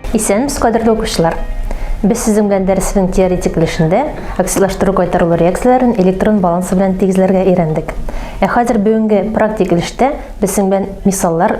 Исәнмесез, кадерле укучылар! Без сезнең белән дәресенең теоретик өлешендә оксидлаштыру кайтарылу реакцияләрен электрон балансы белән тигезләргә өйрәндек. Ә хәзер бүгенге практик өлештә без сезнең белән мисаллар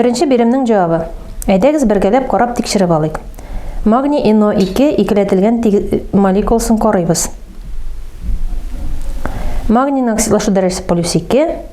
Беренче биремнең җавабы. Әйдәгез бергәләп карап тикшереп алыйк. Магний NO2 икеләтелгән молекуласын карыйбыз. Магний оксидлашу дәрәҗәсе полюс 2,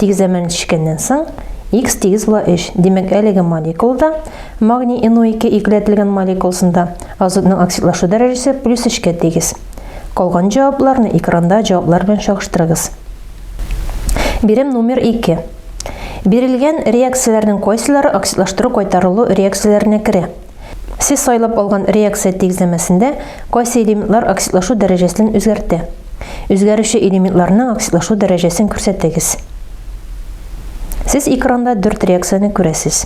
Тик заман ничеккәннән соң X тигез була 3. Димәк, әлеге молекулада магний NO2 игеләтелгән молекуласында азотның оксидлашу дәрәҗәсе плюс 3-кә тигез. Калган җавапларны экранда җаваплар белән чагыштырыгыз. Бирем номер 2. Бирелгән реакцияләрнең кайсылары оксидлаштыру-кайтарылу реакцияләренә керә? Сез сайлап алган реакция тигезләмәсендә кайсы элементлар оксидлашу дәрәҗәсен үзгәртә? Үзгәрүче элементларның оксидлашу дәрәҗәсен күрсәтегез. Сез экранда дүрт реакцияне күрәсез.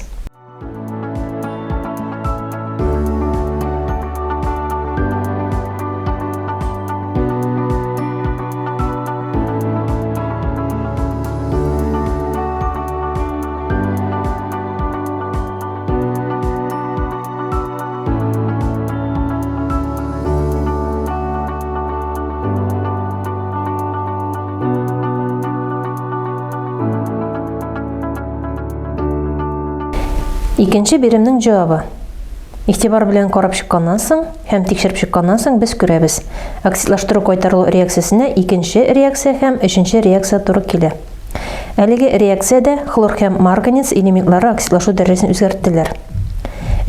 Икенче биремнең җавабы. Игътибар белән карап чыкканнан соң һәм тикшереп чыкканнан соң без күрәбез. Оксидлаштыру кайтарылу реакциясенә икенче реакция һәм өченче реакция туры килә. Әлеге реакциядә хлор һәм марганец элементлары оксидлашу дәрәҗәсен үзгәрттеләр.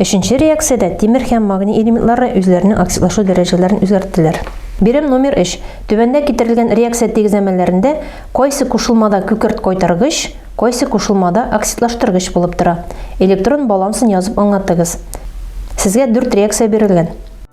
Өченче реакциядә тимер һәм магний элементлары үзләренең оксидлашу дәрәҗәләрен үзгәрттеләр. Бирем номер 3. Түбәндә китерелгән реакция тигезләмәләрендә кайсы кушылмада күкерт кайтаргыч, кайсы кушылмада оксидлаштыргыч булып тора? Электрон балансын язып аңлатыгыз. Сезгә дүрт реакция бирелгән.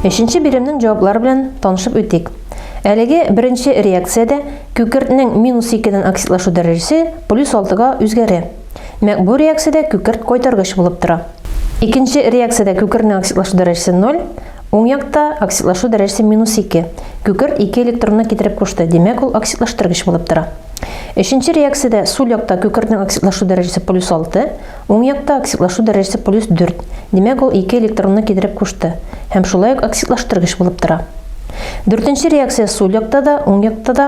Өченче биремнең җаваплары белән танышып үтик. Әлеге беренче реакциядә күкертнең минус 2-дән оксидлашу дәрәҗәсе плюс 6-га үзгәрә. Мәк бу реакциядә күкерт кайтаргыч булып тора. Икенче реакциядә күкертнең оксидлашу дәрәҗәсе 0, уң якта оксидлашу дәрәҗәсе минус 2. Күкерт 2 электронны китереп кушты, димәк ул оксидлаштыргыч булып тора. Өченче реакциядә сул якта күкертнең оксидлашу дәрәҗәсе плюс 6, Уң якта оксидлашу дәрәҗәсе плюс дүрт, димәк, ул ике электронны китереп кушты һәм шулай ук оксидлаштыргыч булып тора. Дүртенче реакция сул якта да, уң якта да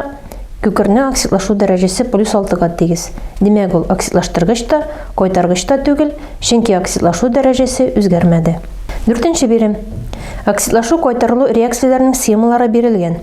күкернең оксидлашу дәрәҗәсе плюс алтыга тигез, димәк, ул оксидлаштыргыч та, кайтаргыч та түгел, чөнки оксидлашу дәрәҗәсе үзгәрмәде. Дүртенче бирем. Оксидлашу-кайтарылу реакцияләренең схемалары бирелгән.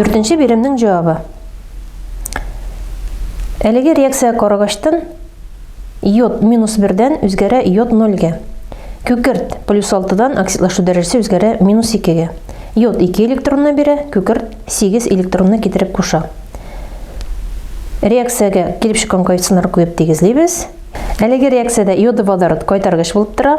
Дүртенче биремнең җавабы. Әлеге реакция карагачтан Йод минус бердән үзгәрә йод нольгә. Күкерт плюс алтыдан оксидлашу дәрәҗәсе үзгәрә минус икегә. Йод ике электронны бирә, күкерт сигез электронны китереп куша. Реакциягә килеп чыккан коэффициентларны куеп тигезлибез. Әлеге реакциядә йоды водород кайтаргыч булып тора.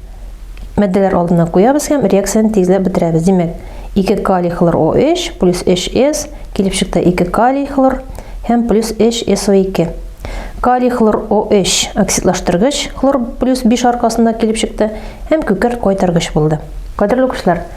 Мәддәләр алдына куябыз һәм реакцияне тизләп бетерәбез. Димәк, 2 калий хлор OH плюс HS килеп чыкты 2 калий хлор һәм плюс HSO2. Калий хлор OH оксидлаштыргыч хлор плюс 5 аркасында килеп чыкты һәм күкерт кайтаргыч булды. Кадерле укучылар,